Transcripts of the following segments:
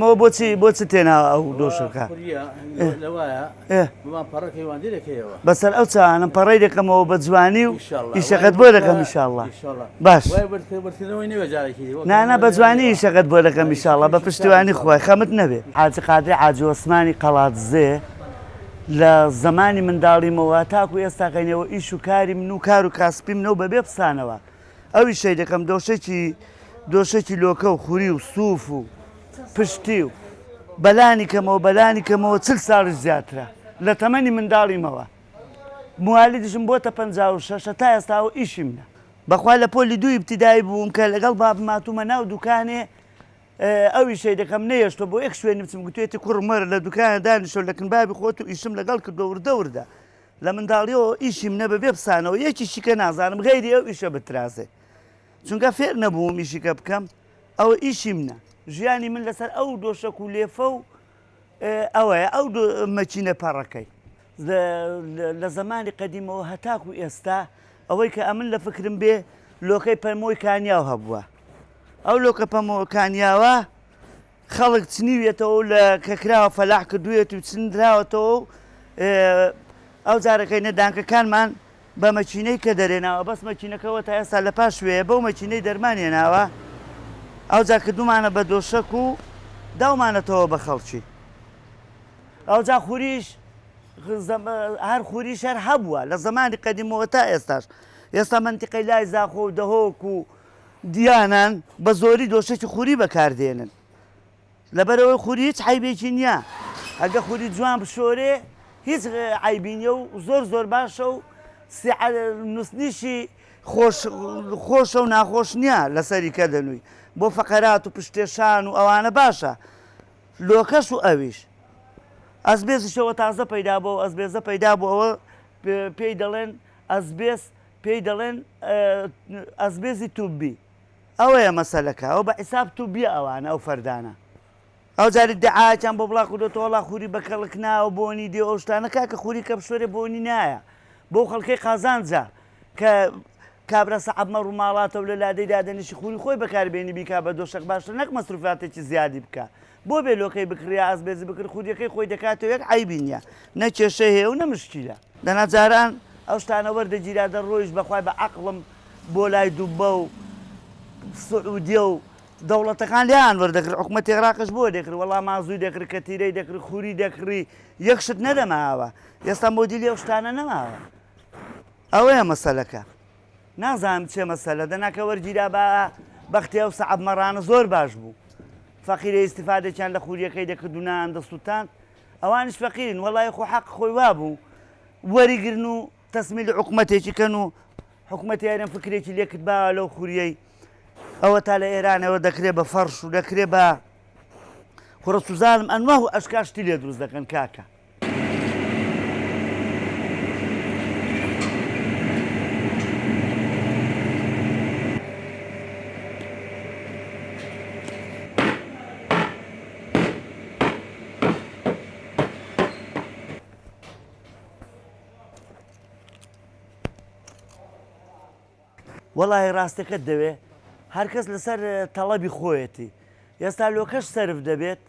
مۆ بۆچی بۆ چ تێنا ئەو دۆشەکە بەسەر ئەو چانم پەڕی دەکەمەوە بە جوانی و ئیشەکەت بۆ دەکەم میشاءله باش نانا بە جوانی ئیشەکەت بۆ دەکەم میشاءله بە پشتیوانی خۆی خەمت نەبێت حاجی قادری عجوسمانی قەڵاتزێ لە زمانی منداڵیمەوە تاکو ئێستاکەینەوە ئیش و کاری من و کار و کاسپی منەوە بەبێ پسانەوە ئەوی شەی دەکەم دۆشەکی دۆشەکی لۆکە و خوری و سوف و پشتی و بەلانی کەمەوە بەلانی کەمەوە چل ساڵی زیاترە لە تەمەنی منداڵیمەوە موالیدشم بۆ تە پ شەشە تا ئێستاوە ئیشی منە بەخوا لە پۆلی دوو ئیبتیدایی بووم کە لەگەڵ بابم ماتومە ناو دوکانێ ئەوی شەی دەکەم نەیەشتۆ بۆ ئەک شوێنی بچم گوتێتی کوڕم وەرە لە دوکانە دانیشەوە لەکن بابی خۆت و ئیشم لەگەڵ کردۆ وردە وردە لە منداڵیەوە ئیشی منە بەبێ پسانەوە یەکی شیکە نازانم غەیری ئەو ئیشە بترازێ چونکە فێر نەبووم ئیشیکە بکەم ئەوە ئیشی منە ژیانی من لەسەر ئەو دۆشەک و لێفە و ئەوەیە ئەو مەچینە پەڕەکەی لە زمانی قەدیمەوە هەتاک و ئێستا ئەوەی کە ئەمن لە فکرم بێ لۆکەی پەرمۆی کانیاو هەبووە ئەو لۆکە پەمۆکانیاوە خەڵک چنیویەتەوە و لە کە کراوە فەلاح کردوویەت و چنراوەتەوە و ئەو جارەکەی نەدانکەکانمان بە مەکینەی کە دەرێناوە بەس مەکینەکە وە تا ئێستا لە پاش وێیە بەو مەکینەی دەرمانیە ناوە ئەوجا کردومانە بە دۆشەک و داومانەتەوە بە خەڵکی ئەوجا خوریش هەر خوری شەر هەبووە لە زمانی قەدیمەوە تا ئێستاش ئێستا منتیقی لای زاخۆ و دەهۆک و دیانان بەزۆری دۆشەکی خوری بەکاردێنن لەبەرئەوەی خوری هیچ عەیبێکی نیە ئەگە خوری جوان بشۆرێ هیچ عەیبی نیە و زۆر زۆر باشە و نووسنیشی خۆشە و ناخۆش نییە لەسەری کە دەنووی بۆ فەقەرات و پشتێشان و ئەوانە باشە لۆکەش و ئەویش ئەسبێزیشەوە تازە پەیدا بۆ ئەسبێزە پەیدا بۆ ئەوە پێی دەڵێن ئەسبێز پێی دەڵێن ئەسبێزی توبی. ئەوەیە مەسەلەکە ئەوە بەحیساب توبیە ئەوانە ئەو فەردانە ئەو جار ئیدعایەکیان بۆ بڵا کردۆتەوە وەڵا خوری بەکەڵک ناوە بۆنی دێ ئەو شتانە کاکە خوری کەپسۆرێ بۆنی نایە بۆ خەڵکەی قازانجە کە کابرا سەعبمە ڕووماڵاتەوە لە لادەی دادەنیشی خوری خۆی بەکاربێنی بیکا بە دۆشەک باشتر نەک مەسروفاتێکی زیادی بکە بۆ بێ لۆکەی بکڕیە ئازبێزی بکڕ خودیەکەی خۆی دەکاتەوە یەک عەیبی نیە نە کێشەی هەیە و نە مشکیلە. دەنا جاران ئەو شتانە وەردەگیرا دەڕۆیشت بەخوای بە عەقڵم بۆ لای دوبە و سعودیە و دەوڵەتەکان لێیان وەردەکرد حکومەتی عێراقیش بۆ دەکرد وەڵا مازوی دەکرد کەتیرەی دەکرد خوری دەکڕی یەک شت نەدەماوە ئێستا مۆدیلی ئەو شتانە نەماوە ئەوەیە مەسەلەکە. نازانم چێ مەسەلە دەنا کە وەرگیرا با بەختی ئەو سەعب مەڕانە زۆر باش بوو فەقیرە ئیسیفادێکیان لە خووریەکەی دەکرد و نان دەسووتان ئەوانش فەقیرن وەڵی خۆ حەق خۆی وابوو وەریگرن و تەسمیل حکوومەتێکی کەن و حکوومەتی ئەرم فکرێکی لێکرد با لەو خووریەی ئەوە تا لە ئێرانەوە دەکرێت بە فەرش و دەکرێت بە خڕە سوزانم ئەنوه و ئەشکاشتی لێ دروست دەکەن کاکە وەڵاهی ڕاستەکەت دەوێ هەرکەس لەسەر تەڵەبی خۆیەتی ئێستا لۆکەش سرف دەبێت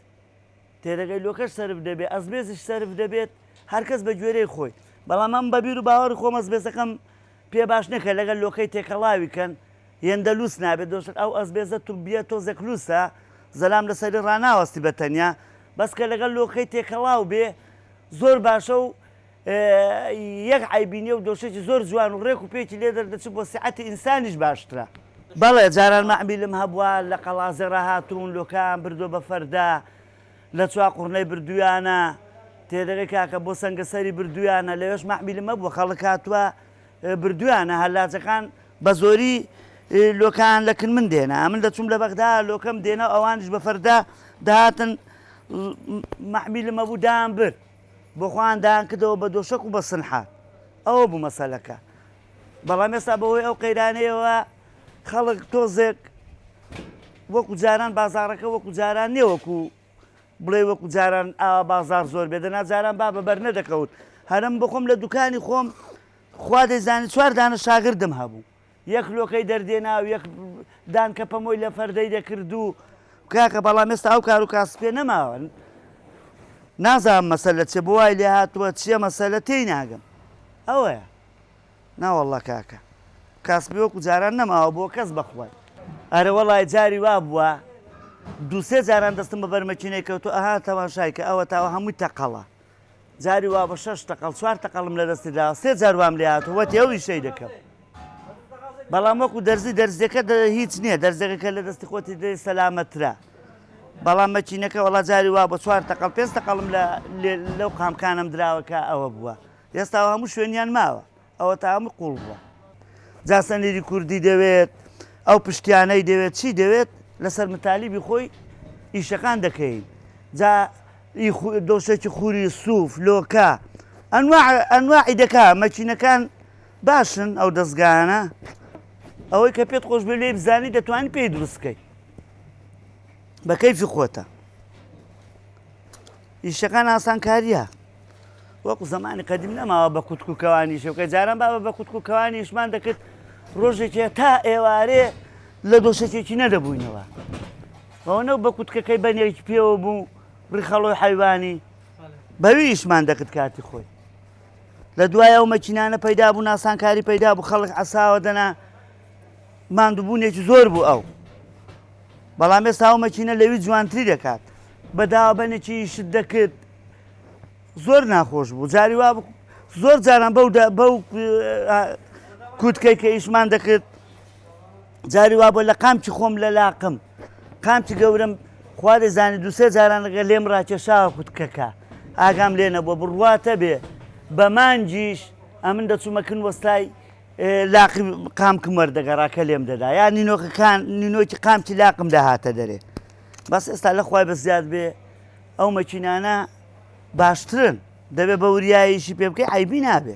تێدەگەیلۆکەش سەرف دەبێت ئەسبێسش سەرف دەبێت هەرکەس بە گوێرەی خۆی بەڵام من بە بیر و باوەڕی خۆم ئەسبێسەکەم پێ باش نییە کە لەگەل لۆکەی تێکەڵاوی کەن هێندە لوس نابێت دۆشت ئەو ئەسبێسە توبییە تۆزێک لوسە زەلام لە سەری ڕاناوەستی بە تەنیا بەس کە لەگەل لۆکەی تێکەڵاو بێ زۆر باشە و یەک عەیبی نیە و دۆسێکی زۆر جوان و ڕێک و پێکی لێ دەردەچێت بۆ سیعەتی ئینسانیش باشترە. بەڵێ جاران مەعمیلم هەبووە لە قەڵازێڕا هاتوون لۆکەیان بردووە بە فەردە لە چواقوڕنەی بردوویانە تێدەگەی کاکە بۆ سەنگەسەری بردوویانە لەوێش مەعمیلم هەبووە خەڵک هاتووە بردوویانە هەلاجەکان بە زۆری لۆکەیان لە کنمن دێنا ئەمن دەچووم لە بەغدا لۆکەم دێنا و ئەوانیش بە فەردە دەهاتن مەعمیلم هەبوو دایانبرد بۆ خۆیان دایان کردەوە بە دۆشەک و بە سنحات ئەوە بوو مەسەلەکە بەڵام ئێستا بەهۆی ئەو قەیرانەیەوە خەڵک تۆزێک وەکو جاران بازارەکە وەکو جاران نیە وەکو بڵێ وەکو جاران ئاوا بازار زۆر بێ دەنا جاران با بە بەر نەدەکەوت هەرم بخۆم لە دوکانی خۆم خوا دەیزانانی چوار دانە شاگردم هەبوو یەک لۆکەی دەردێنا و یەک دانکە پەمۆی لە فەردەی دەکرد و. کاکە بەڵام ئێستا ئەو کار و کاسپیە نەماوە. نازانم مەسەلە چیە بۆ وای لێ هاتووە چیە مەسەلە تێی ناگەم ئەوەیە ناوەڵڵا کاکە کاسپی وەکو جاران نەماوە بۆ کەس بەخوای ئەرە وەڵای جاری وا بووە دووسێ جاران دەستم بە بەرمەکینەی کەوتو ئەها تەماشای کە ئەوە تاوە هەمووی تەقەڵە جاری وا بە شەش تەقەڵ چوار تەقەڵم لە دەستی داوە سێ جار وام لێ هاتووە وەتی ئەو ئیشەی دەکەم بەڵام وەکو دەرزی دەرزیەکە هیچ نییە دەرزەکە کە لە دەستی خۆتی دێ سەلامەترە بەڵام مەچینەکە وڵا جاری وا بە چوار تەقەڵ پێنج تەقەڵم لە لەو قامکانم دراوەکە ئەوە بووە ئێستا هەموو شوێنیان ماوە ئەوەتا ئەمە قوڵ بووە جا سەنیری کوردی دەوێت ئەو پشتیانەی دەوێت چی دەوێت لەسەر متالیبی خۆی ئیشەکان دەکەین جا دۆشێکی خوری سوف لۆکە ئەنواعی دەکا مەچینەکان باشن ئەو دەستگانە ئەوەی کە پێت خۆش بێ لێ بزانی دەتوانانی پێی دروستکەی بەکەیفی خۆتە ئیشەکان ئاسانکاریە وەکو زەمانی قەدیم نەماوە بە کوتک و کەوانیش بکە جاران بابە بە کوتک و کەوانیشمان دەکرد ڕۆژێکێ تا ئێوارێ لە دۆشەکێکی نەدەبووینەوە بەوە نەو بە کوتکەکەی بەنێکی پێوە بوو ڕیخەڵۆی حیوانی بەویشمان دەکرد کاتی خۆی لە دوای ئەو مەچینانە پەیدا بوو ناسانکاری پەیدا بوو خەڵک عساوە دەنا ماندووبوونێکی زۆر بوو ئەو بەڵام ئێستا ئەو مەچینە لەوی جوانتری دەکات بە دابەنێکی شت دەکرد زۆر ناخۆش بوو جاری وا زۆر جاران بەو بەو کووتکەی کە ئیشمان دەکرد جاری وا بۆ لە قامکی خۆم لە لاقم قامکی گەورم خوا دەزانانی دوسێ جاران لەگە لێم ڕاکێشا کووتکەکە ئاگام لێ نەبووە بڕواتە بێ بە مانجیش ئەمن دەچوومەکن وەستای لاقی قامکم وەردەگەڕاکە لێم دەدا یا نینۆکەکان نینۆکی قامکی لاقم داهاتە دەرێ بەس ئێستا لە خوای بە زیاد بێ ئەو مەکینانە باشترن دەبێ بە وریاییشی پێ بکەی عیبی نابێ.